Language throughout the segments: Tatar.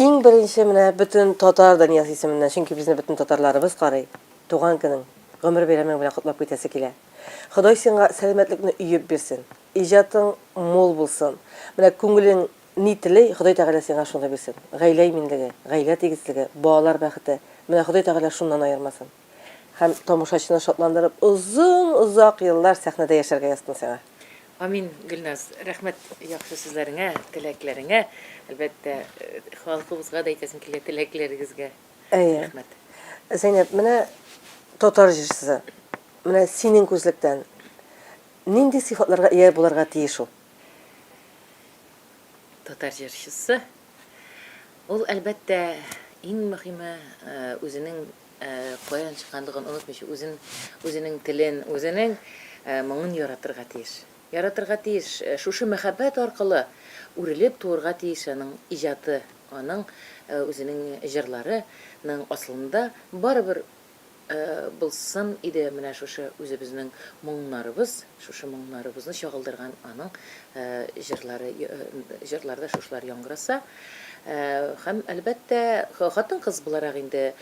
Иң беренче менә бөтен татар дөньясы исеменнән, чөнки безне бөтен татарларыбыз карый. Туган көнең, гомер бәйрәмең белән котлап китәсе килә. Ходай сиңа сәламәтлекне өеп бирсен. Иҗатың мул булсын. Менә күңелең ни тели, Ходай Тәгалә сиңа шуны бирсен. Гаилә иминлеге, гаилә тигезлеге, балалар бәхете. Менә Ходай Тәгалә шуннан аермасын. Һәм тамашачыны шатландырып, озын-озак еллар сәхнәдә яшәргә язсын сиңа! Амин, Гөлназ! Рәхмәт яхшы сүзләреңә, теләкләреңә! Әлбәттә, халкыбызга да әйтәсем килә, теләкләрегезгә Әйе. рәхмәт! Зәйнәб, менә татар җырчысы, менә синең күзлектән нинди сыйфатларга ия булырга тиеш ул? Татар җырчысы, ул, әлбәттә, иң мөһиме, үзенең Каян чыкканлыгын онытмыйча, үзен, үзенең телен, үзенең моңын яратырга тиеш. Яратырга тиеш. Шушы мәхәббәт аркылы үрелеп туырга тиеш аның иҗаты, аның үзенең җырлары ның асылында барыбер булсын иде менә шушы үзебезнең моңнарыбыз. Шушы моңнарыбызны чагылдырган аның җырлары, җырларда шушылар яңгыраса. Һәм, әлбәттә, хатын-кыз буларак инде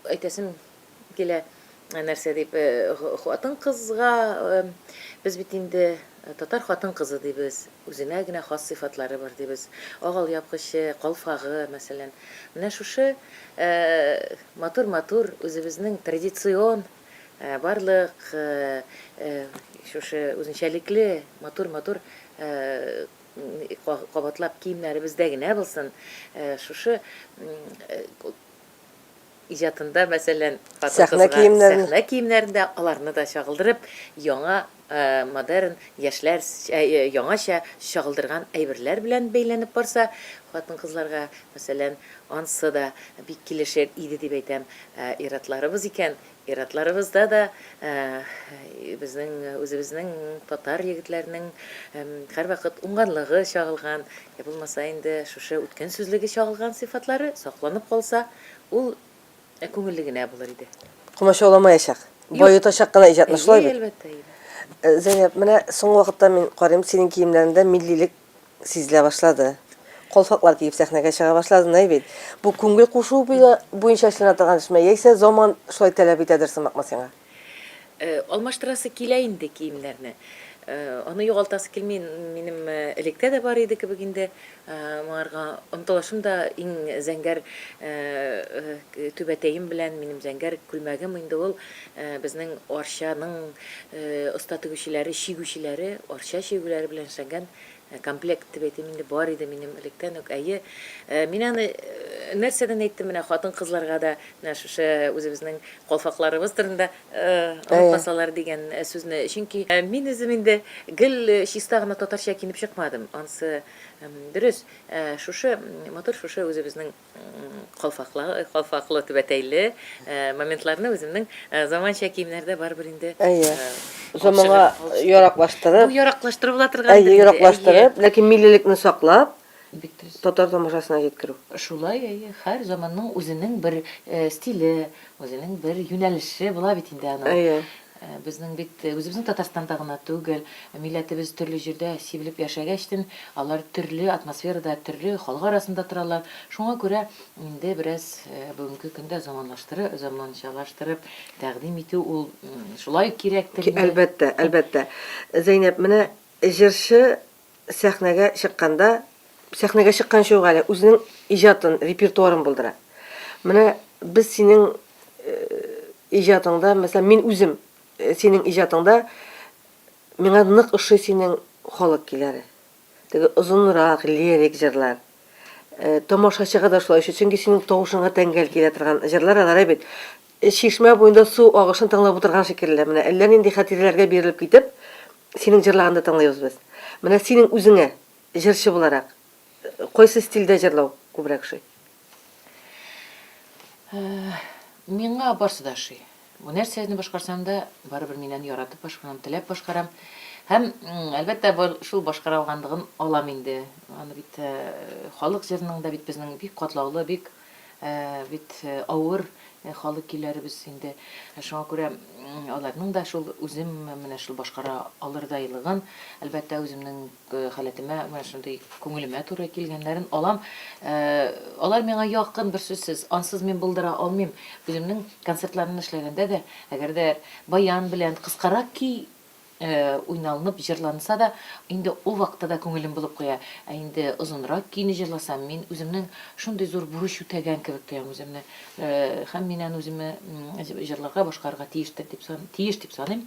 әйтәсем килә, нәрсә дип, хатын-кызга без бит инде татар хатын-кызы дибез, үзенә генә хас сыйфатлары бар дибез. Агал япкычы, калфагы, мәсәлән. Менә шушы матур-матур үзебезнең традицион, Барлык шушы үзенчәлекле матур-матур кабатлап киемнәребездә генә булсын, шушы иҗатында мәсәлән, хатын-кызга сәхнә киемнәрендә аларны да чагылдырып, яңа Модерн, яшьләр яңача чагылдырган әйберләр белән бәйләнеп барса, хатын-кызларга, мәсәлән, ансы да бик килешер иде дип әйтәм. Ә ир-атларыбыз икән, ир-атларыбызда да безнең үзебезнең татар егетләренең һәрвакыт уңганлыгы чагылган, йә булмаса инде шушы үткен сүзлеге чагылган сыйфатлары сакланып калса, ул Ә күңелле генә булыр иде. Комачауламаячак. Баетачак кына иҗатны, шулай бит? Әлбәттә, әлбәттә. Зәйнәп, менә соңгы вакытта мин карыйм, синең киемнәрендә миллилек сизелә башлады. Колфаклар киеп сәхнәгә чыга башладың, әй бит. Бу күңел кушуы буенча эшләнә торган эшме, яисә заман шулай таләп итәдер сымакмы сиңа? Алмаштырасы килә инде киемнәрне. Аны югалтасы килми, минем электә дә бар иде кебек инде. Моңарга омтылышым да иң зәңгәр түбәтәем белән, минем зәңгәр күлмәгем инде ул безнең Арчаның оста тегүчеләре, чигүчеләре, Арча чигүләре белән эшләнгән Комплект дип әйтим инде, бар иде минем электән үк, әйе. Мин аны нәрсәдән әйттем, менә хатын-кызларга да менә шушы үзебезнең калфакларыбыз турында онытмасалар дигән сүзне. Чөнки мин үзем инде гел чиста гына татарча киенеп чыкмадым. Ансы дөрес, шушы матур, шушы үзебезнең Калфаклы, калфаклы түбәтәйле моментларны үземнең заманча киемнәрдә барыбер инде. Әйе. Заманга яраклаштырып. Бу яраклаштыру була торган. Әйе, яраклаштырып, ләкин миллилекне саклап, татар тамашасына җиткерү. Шулай, әйе, һәр заманның үзенең бер стиле, үзенең бер юнәлеше була бит инде аның. Әйе. Безнең бит үзебезнең Татарстанда гына түгел, милләтебез төрле җирдә сибелеп яшәгәчтен, алар төрле атмосферада, төрле халык арасында торалар. Шуңа күрә инде бераз бүгенге көндә заманлаштырып, заманчалаштырып тәкъдим итү ул шулай ук кирәктер инде. Әлбәттә, әлбәттә. Зәйнәб, менә җырчы сәхнәгә чыкканда, сәхнәгә чыкканчы ук әле үзенең иҗатын, репертуарын булдыра. Менә без синең иҗатыңда, мәсәлән, мин үзем синең иҗатыңда миңа нык ошый синең халык көйләре. Теге озынрак лирик җырлар. Тамашачыга да шулай ошый, чөнки синең тавышыңа тәңгәл килә торган җырлар алар бит. Чишмә буенда су агышын тыңлап утырган шикелле. Менә әллә нинди хатирәләргә бирелеп китеп, синең җырлаганды тыңлыйбыз без. Менә синең үзеңә, җырчы буларак, кайсы стильдә җырлау күбрәк ошый? Миңа барсы да ошый. Бу нәрсә аны башкарсам да, барыбер мин аны яратып башкарам, теләп башкарам. Һәм, әлбәттә, шул башкара алганлыгын алам инде. Аны бит халык җырының да бит безнең бик катлаулы, бик бит авыр халык көйләребез инде. Шуңа күрә аларның да шул үзем менә шул башкара алырдайлыгын, әлбәттә, үземнең Халәтемә менә шундый күңелемә туры килгәннәрен алам. Алар миңа якын, берсүзсез. Ансыз мин булдыра алмыйм. Үземнең концертларны эшләгәндә дә, әгәр дә баян белән кыскарак көй уйналынып җырланса да, инде ул вакытта да күңелем булып куя. Ә инде озынрак көйне җырласам, мин үземнең шундый зур бурыч үтәгән кебек тоям үземне. Һәм мин аны үземә җырларга, башкарырга тиештер дип, тиеш дип саныйм.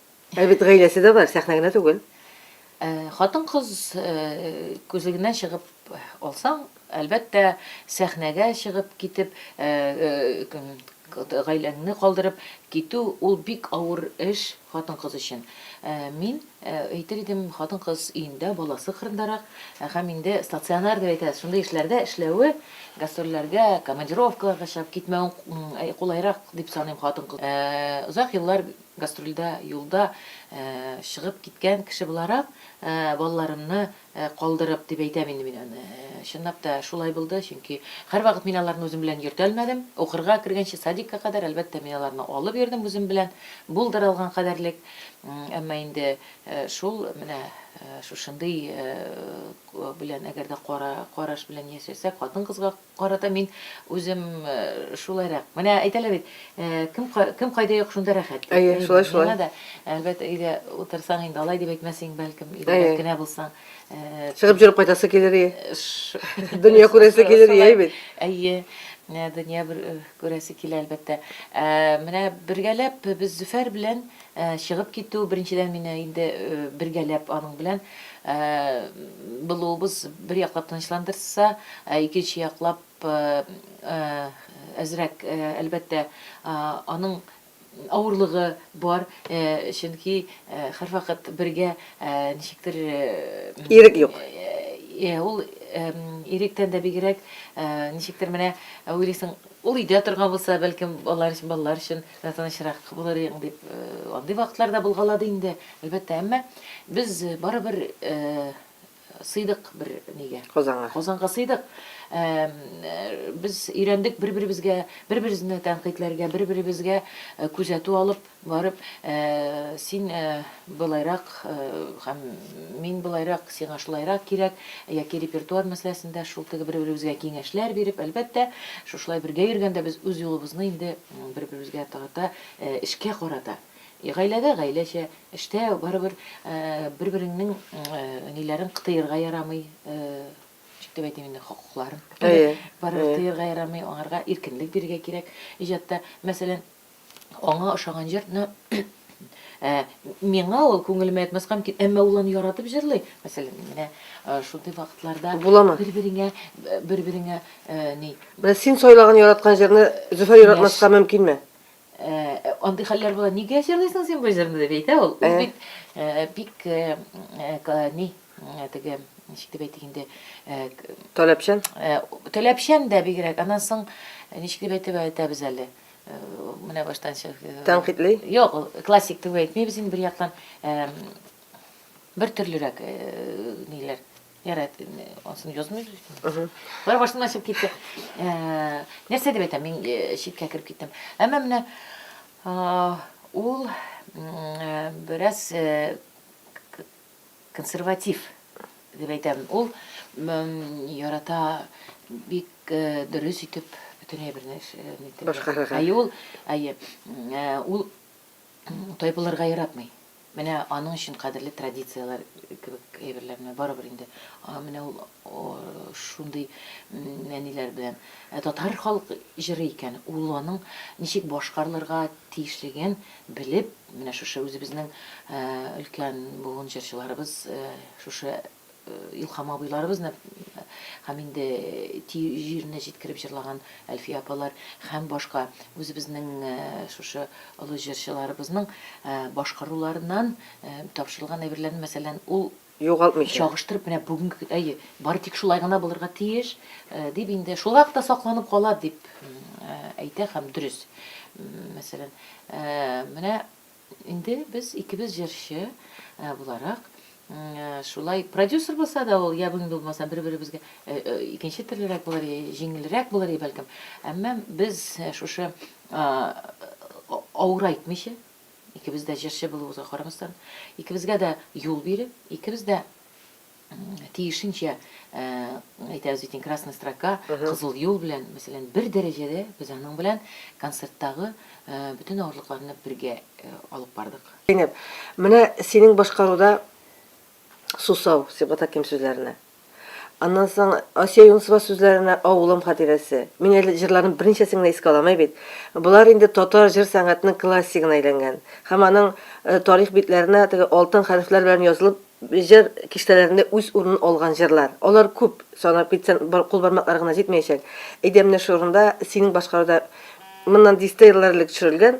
Ә бит гаиләсе дә бар, сәхнә генә түгел. Хатын-кыз күзлегеннән чыгып алсаң, әлбәттә, сәхнәгә чыгып китеп, гаиләңне калдырып китү, ул бик авыр эш хатын-кыз өчен. Мин әйтер идем, хатын-кыз өендә, баласы кырындарак, һәм инде стационар дип әйтәбез, шундый эшләрдә эшләве, гастрольләргә, командировкаларга чыгып китмәве кулайрак дип саныйм хатын-кыз. Озак еллар Гастрольдә юлда чыгып киткән кеше буларак, балаларымны калдырып, дип әйтәм инде мин аны. Чынлап та шулай булды, чөнки һәрвакыт мин аларны үзем белән йөртәлмәдем. Укырга кергәнче садикка кадәр, әлбәттә, мин аларны алып йөрдем үзем белән, булдыра алган кадәрлек. Әмма инде шул менә шушындый белән әгәр дә кара караш белән яшәсәк, хатын-кызга, Карата мин үзем шулайрак. Менә әйтәләр бит, кем кем кайда юк, шунда рәхәт. Әйе, шулай шулай. Миңа да, әлбәттә, өйдә утырсаң инде алай дип әйтмәсең, бәлкем, өйдә генә булсаң. Чыгып җөреп кайтасы килер ие. Дөнья күрәсе килер ие бит. Әйе, дөнья күрәсе килә, әлбәттә. Менә бергәләп без Зөфәр белән Чыгып китү, беренчедән, мине инде бергәләп аның белән булуыбыз бер яклап тынычландырса, ә икенче яклап әзрәк, әлбәттә, аның авырлыгы бар, чөнки һәрвакыт бергә ничектер. Ирек юк. Ул иректән дә бигрәк, ничектер менә уйлыйсың, ул өйдә торган булса, бәлкем, балалар өчен, балалар өчен Тә тынычрак булыр идең, дип андый вакытлар да булгалады инде, әлбәттә. Әмма без барыбер сыйдык бер нигә. Казанга. Казанга сыйдык. Без өйрәндек бер-беребезгә, бер-беребезне тәнкыйтьләргә, бер-беребезгә күзәтү алып барып, син былайрак һәм мин былайрак, сиңа шулайрак кирәк, яки репертуар мәсьәләсендә шул теге бер-беребезгә киңәшләр биреп, әлбәттә, шушылай бергә йөргәндә без үз юлыбызны инде Бер-беребезгә карата, эшкә карата. Гаиләдә гаиләчә, эштә барыбер бер-береңнең ниләрен кытыерга ярамый, ничек дип әйтим инде, хокукларын. Әйе. Барыбер тыерга ярамый, аңарга иркенлек бирергә кирәк. Иҗатта, мәсәлән, аңа ошаган җырны Ә миңа ул күңелемә ятмаска мөмкин, әмма ул аны яратып җырлый. Мәсәлән, менә шундый вакытларда бер-береңә бер-береңә ни. Менә син сайлаган яраткан җырны Зөфәр яратмаска мөмкинме? Андый хәлләр була. Нигә җырлыйсың син бу җырны дип әйтә ул. Ул бит бик ни, теге ничек дип әйтик инде, таләпчән. Таләпчән дә бигрәк. Аннан соң ничек дип әйтеп әйтәбез әле? Менә баштан чык. Э, Тәнкыйтьли? Юк, классик дип әйтмибез инде бер яктан. Э, бер төрлерәк э, ниләр. Ярат, ансын язмыйбыз икән. Бер баштан ачып китте. Нәрсә дип әйтәм, мин читкә кереп киттем. Әмма менә ул бераз консерватив дип әйтәм. Ул ярата бик э, дөрес итеп бөтен әйберне э, башкарырга. Әйе, ул, әйе, э, ул тайпылырга яратмый. Менә аның өчен кадерле традицияләр кебек әйберләрне барыбер инде. Менә ул шундый нәниләр белән татар халык җыры икән, ул аның ничек башкарылырга тиешлеген белеп Менә шушы үзебезнең өлкән буын җырчыларыбыз, шушы Илһам абыйларыбызны һәм инде тию җиренә җиткереп җырлаган Әлфия апалар һәм башка үзебезнең шушы олы җырчыларыбызның башкаруларыннан тапшырылган әйберләрне, мәсәлән, ул Югалтмыйча. Чагыштырып, менә бүгенге, әйе, бары тик шулай гына булырга тиеш, дип инде, шулай ук та сакланып кала, дип әйтә һәм дөрес. Мәсәлән, менә инде без икебез җырчы буларак, шулай продюсер булса да ул, я бүгенге булмаса, бер-беребезгә икенче төрлерәк булыр, җиңелрәк булыр, бәлкем. Әмма без шушы авырайтмыйча, Икебез дә җырчы булуыбызга карамастан, икебезгә дә юл биреп, икебез дә тиешенчә, әйтәбез бит инде, красная строка, кызыл юл белән, мәсәлән, бер дәрәҗәдә без аның белән концерттагы бөтен авырлыкларны бергә алып бардык. Зәйнәб, менә синең башкаруда Сусау, Сибгат Хәким сүзләренә. Аннан соң Асия Юнысова сүзләренә Авылым хатирәсе. Мин әле җырларның берничәсен генә искә аламай бит. Болар инде татар җыр сәнгатенең классигына әйләнгән. Һәм аның тарих битләренә теге алтын хәрефләр белән язылып җыр киштәләрендә үз урынын алган җырлар. Алар күп, санап китсәң кул бармаклары гына җитмәячәк. Әйдә менә шул урында синең башкаруда моннан дистә еллар элек төшерелгән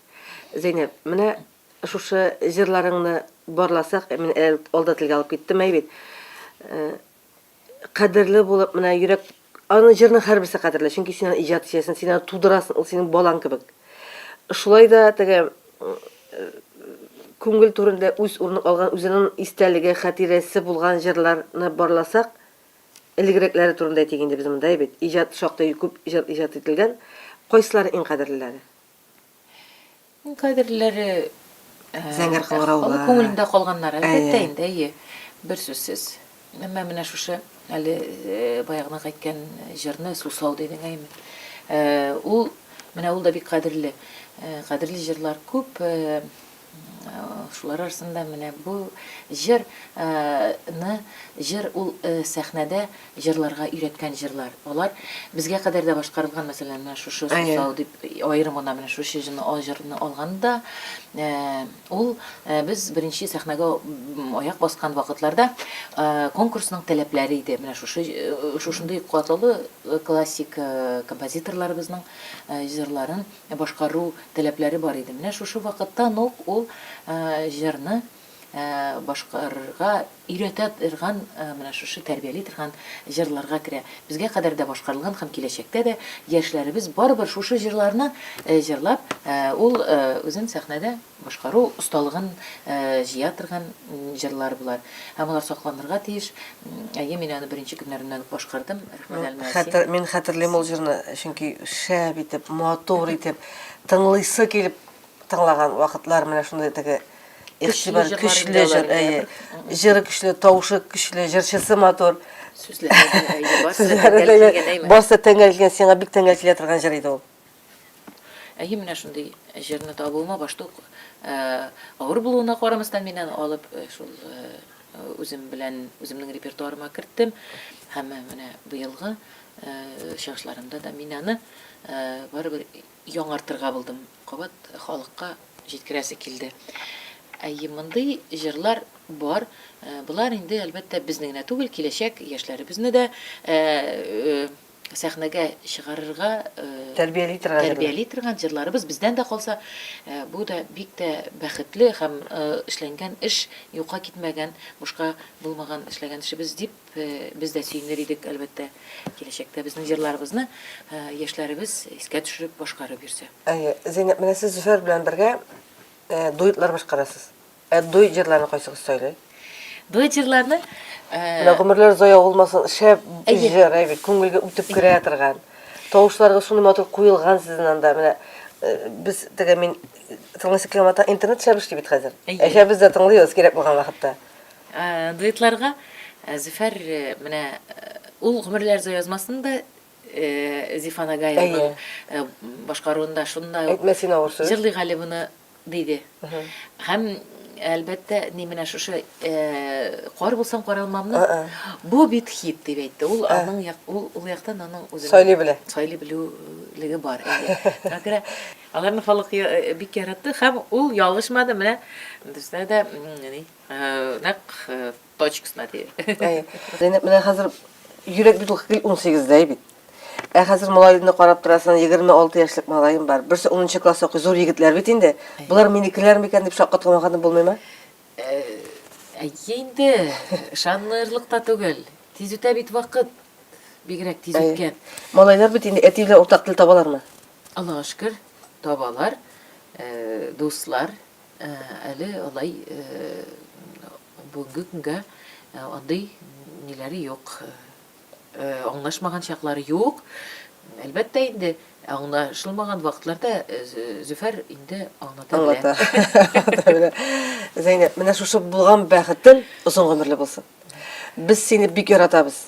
Зәйнәб, менә шушы җырларыңны барласак, мин алда телгә алып киттем, әй бит, кадерле булып, менә йөрәк, аны җырның һәрберсе кадерле, чөнки син аны иҗат итәсең, син аны тудырасын, ул синең балаң кебек. Шулай да теге күңел түрендә үз урынын алган, үзенең истәлеге, хатирәсе булган җырларны барласак, элегрәкләре турында әйтик инде без монда, әй бит, иҗат шактый күп җыр иҗат ителгән, кайсылары иң кадерлеләре? Кадерләре зәңгәр кыңгыраулар. Күңелендә калганнар, әлбәттә инде, әйе. Бер сүзсез. Әмма менә шушы әле баягына әйткән җырны Сусау дидең, әйме. Ул менә ул да бик кадерле. Кадерле җырлар күп. Шулар арасында менә бу җыр ны җыр ул сәхнәдә җырларга өйрәткән җырлар. Алар безгә кадәр дә башкарылган, мәсәлән, менә шушы Сусау дип аерым гына менә шушы җыны а җырны алганда, ул без беренче сәхнәгә аяк баскан вакытларда конкурсның таләпләре иде. Менә шушы шушындый катлаулы классик композиторларыбызның җырларын Ә башкару таләпләре бар иде. Менә шушы вакыттан ук ул җырны башкарырга өйрәтә торган, менә шушы тәрбияли торган җырларга керә. Безгә кадәр дә башкарылган һәм киләчәктә дә яшьләребез барыбер шушы җырларны җырлап, ул үзен сәхнәдә Башкару осталыгын җыя торган җырлар болар. Һәм алар сакланырга тиеш. Әйе, мин аны беренче көннәреннән үк башкардым. Рәхмәт, Әлмәәсин. Хәтер, мин хәтерлим ул җырны, чөнки шәп итеп, матур итеп, тыңлыйсы килеп тыңлаган вакытлар менә шундый теге игътибар көчле җыр, әйе. Җыры көчле, тавышы көчле, җырчысы матур. Сүзләре дә, әйе, барсы да тәңгәл килгән, әйме? Барсы да тәңгәл килгән, сиңа бик тәңгәл килә торган җыр иде ул. Әйе, менә шундый җырны табуыма башта ук авыр булуына карамастан мин аны алып шул үзем белән үземнең репертуарыма керттем һәм менә быелгы чыгышларымда да мин аны барыбер яңартырга булдым. Кабат халыкка җиткерәсе килде. Әйе, мондый җырлар бар. Болар инде, әлбәттә, безне генә түгел, киләчәк яшьләребезне дә сәхнәгә чыгарырга тәрбияли торган тәрбияли торган җырларыбыз бездән дә калса бу да бик тә бәхетле һәм эшләнгән эш юкка китмәгән бушка булмаган эшләгән эшебез дип без дә сөенер идек әлбәттә киләчәктә безнең җырларыбызны яшьләребез искә төшереп башкарып йөрсә әйе зинә менә сез зөфәр белән бергә дуэтлар башкарасыз Ә дуэт җырларны кайсыгыз сөйли? Дуэт җырларны... Менә гомерләр зая булмасын, шәп җыр, әйбит, күңелгә үтеп керә торган. Тавышларга шундый матур куелган сезнең анда. Менә без теге мин тыңлыйсы килгән матан интернет шәп эшли бит хәзер. Әшә без дә тыңлыйбыз кирәк булган вакытта. Дуэтларга Зөфәр менә ул гомерләр зая язмасын да Зифа Нагаеваның башкаруында шундай ук. Әйтмә син авыр сүз. Җырлыйк әле моны, диде. Һәм, әлбәттә, ни менә шушы Кар булсам каралмамны, бу бит хит, дип әйтте. Ул аның, ул яктан аның үзенең. Сайлый белә. Сайлый белүлеге бар. Шуңа күрә аларны халык бик яратты һәм ул ялгышмады. Менә бездә дә нәкъ точкасына тиеп. Әй. Зәйнәп менә хәзер йөрәк бит ул гел 18-дәй бит. Ә хәзер малайны карап торасың, 26 яшьлек малаем бар. Берсе 10 класс укый, зур егетләр бит инде. Булар минекеләр микән дип шаккатламаганы булмыймы? Әйе инде, ышанырлык та түгел. Тиз үтә бит вакыт. Бигрәк тиз үткән. Малайлар бит инде әти белән уртак тел табалармы? Аллага шөкер, табалар. Дуслар, Әле алай бүгенге көнгә андый ниләре юк, аңлашмаган чаклары юк. Әлбәттә инде, аңлашылмаган вакытларда Зөфәр инде аңлата белә. Аңлата белә. Зәйнәп, менә шушы булган бәхетең озын гомерле булсын. Без сине бик яратабыз.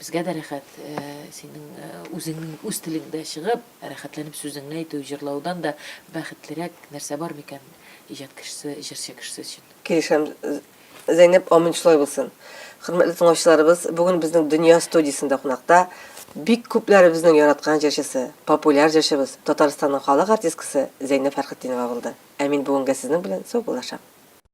Безгә дә рәхәт, синең үзеңнең үз телеңдә чыгып, рәхәтләнеп сүзеңне әйтү, җырлаудан да бәхетлерәк нәрсә бар микән иҗат кешесе, җырчы кешесе өчен? Килешәм, Зәйнәб, амин шулай булсын. Хөрмәтле тыңлаучыларыбыз, бүген безнең Дөнья студиясендә кунакта бик күпләребезнең яраткан җырчысы, популяр җырчыбыз, Татарстанның халык артисткасы Зәйнәб Фәрхетдинова булды. Ә мин бүгенгә сезнең белән саубуллашам.